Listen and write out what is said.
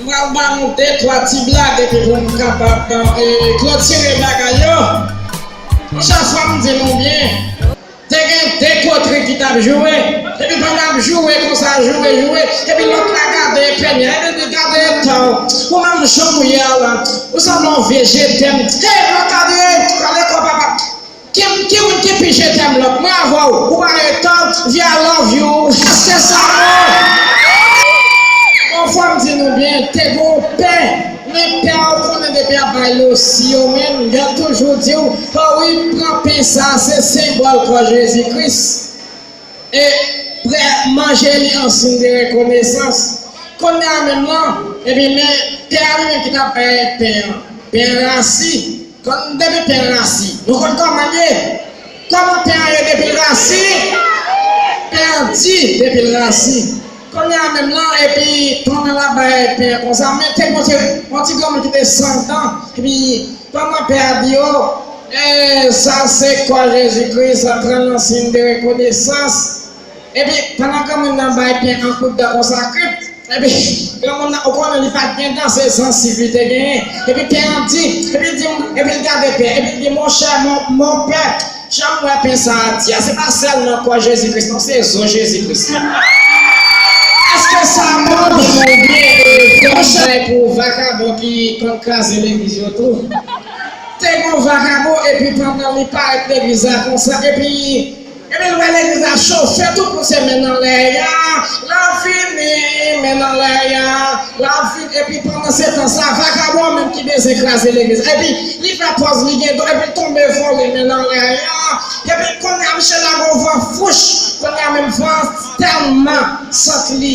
M pral ba nou de twa ti blag epi pou m kapab klotire bagay yo. Chak fwa m di nou byen, te gen de kotri ki t ap joure, epi pandan y ap joure konsa, joure, joure, epi lòt la gade pènye a, epi l di, Gade eta w, ou menm jan w ye a la, ou sanble yon vye je tèm. Hey, Makadre, kale kò papa! Kipkirr kipi je t'aime love mwen avèw ou pa nan etan via I love you Jasper Sanon. Bon fòm di nou byen te gon pè men pè a ou konnen depi ap bay losi yo menm yap toujou diw ho wi pran pen sa se senbòl kò Jezi Kris e prè manje li an sin de rekonesans kounye a menm lan ebyen men pè a li menm ki tap bay pen an pen rasi Kòm depi pen rasi nou konn kòman l ye kòman pen an ye depi l rasi pen an di depi l rasi kounye a menm lan epi pandan l ap bay pen an konsa men te montre yon ti granmoun ki te san dan epi pandan pè a di o e sa se kò Jezikri sa pran nan siy de rekonesans. Ebyen, pandan granmoun nan bay pen an kout dan konsa krip, epi granmoun nan, ou konnen li pa t gen dan, se zansiv li te genyen, epi pen an di, epi l di, epi l gade pen, epi l di, monchè, monpè, jan m wè pen sa a di a, se pa sèl nan kò Jezi Kris non, se zo Jezi Kris tou. Èske sa bon? Ebyen, yon chay pou vakabon ki konn kraze legliz yo tou. Te gen yon vakabon, epi pandan li parèt legliz la konsa, epi. Ebyen lè legliz la cho fè tout moun se men nan lè ya lap vini men nan lè ya lap vini epi pandan se tan sa vakabon an menm ki bezyen kraze legliz epi li fè pòz li gen don epi l tonbe vole men nan lè ya epi kounya misye lage yon van fouch kounya menm van an tèlman santi li